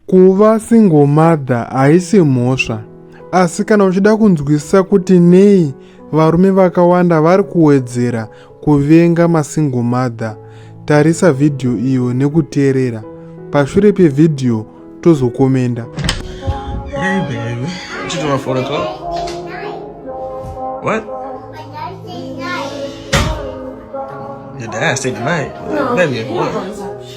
Kuva single mother haisi mhosva, asi kana uchida kunzwisisa kuti nei varume vakawanda vari kuwedzera kuvenga masingle mother, tarisa vhidhiyo iyo nekuteerera. Pashure pevhidhiyo tozokomenda. Hey baby, what you doing for What? Your dad stayed the night. No, baby, what?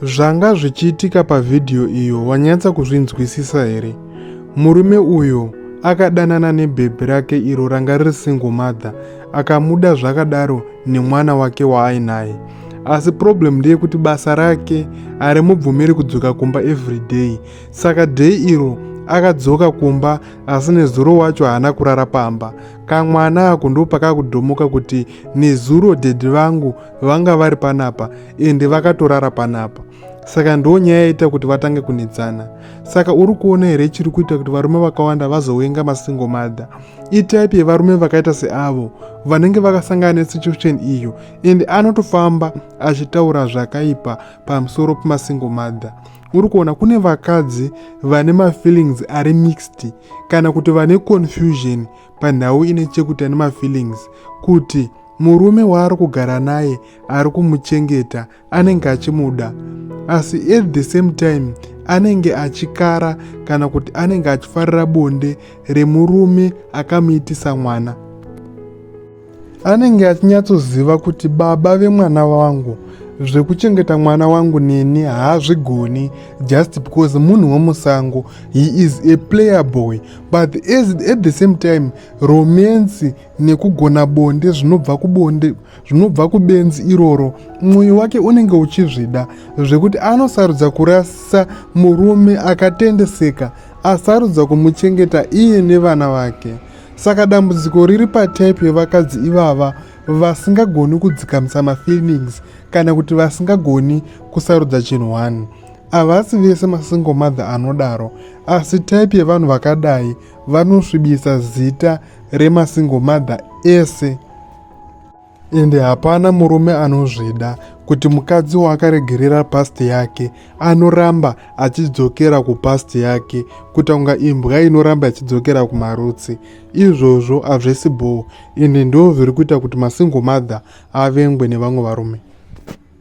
Zvanga zvichiitika pavhidhiyo iyo wanyatsa kuzvinzwisisa here? Murume uyo akadanana nebhebhi rake iro ranga riri single mother akamuda zvakadaro nemwana wake waainaye asi problem ndeyekuti basa rake harimubvumiri kudzoka kumba everyday saka day iro akadzoka kumba asi nezuro wacho haana kurara pamba kamwana ako ndopakakudhomoka kuti nezuro dhedhi vangu vanga vari panapa ende vakatorara panapa saka ndo nyaya yaita kuti vatange kunetsana saka uri kuona here chiri kuita kuti varume vakawanda vazowenga masingle mother itype yevarume vakaita seavo vanenge vakasangana nesituation iyo and anotofamba achitaura zvakaipa pamusoro pemasingle mother uri kuona kune vakadzi vane mafeelings ari mixed kana kuti vane confusion panhau ine chekuita nemafeelings kuti murume waari kugara naye ari kumuchengeta anenge achimuda asi at the same time anenge achikara kana kuti anenge achifarira bonde remurume akamuitisa mwana anenge achinyatsoziva kuti baba vemwana wangu zvekuchengeta mwana wangu neni haazvigoni just because munhu wemusango he is a player boy but as, at the same time romance nekugona bonde zvinobva kubonde zvinobva kubenzi iroro mwoyo wake unenge uchizvida zvekuti anosarudza kurasa murume akatendeseka asarudza kumuchengeta iye nevana vake saka dambudziko riri patype yevakadzi ivava vasingagoni kudzikamisa mafeelings kana kuti vasingagoni kusarudza chinhu one havasi vese masingle mother anodaro asi type yevanhu vakadai vanosvibisa zita remasingle mother ese ende hapana murume anozvida kuti mukadzi waakaregerera past yake anoramba achidzokera kupast yake kuita kunga imbwa inoramba ichidzokera kumarutsi izvozvo hazvisi bhoo ende ndoo zviri kuita kuti masingle mother avengwe nevamwe varume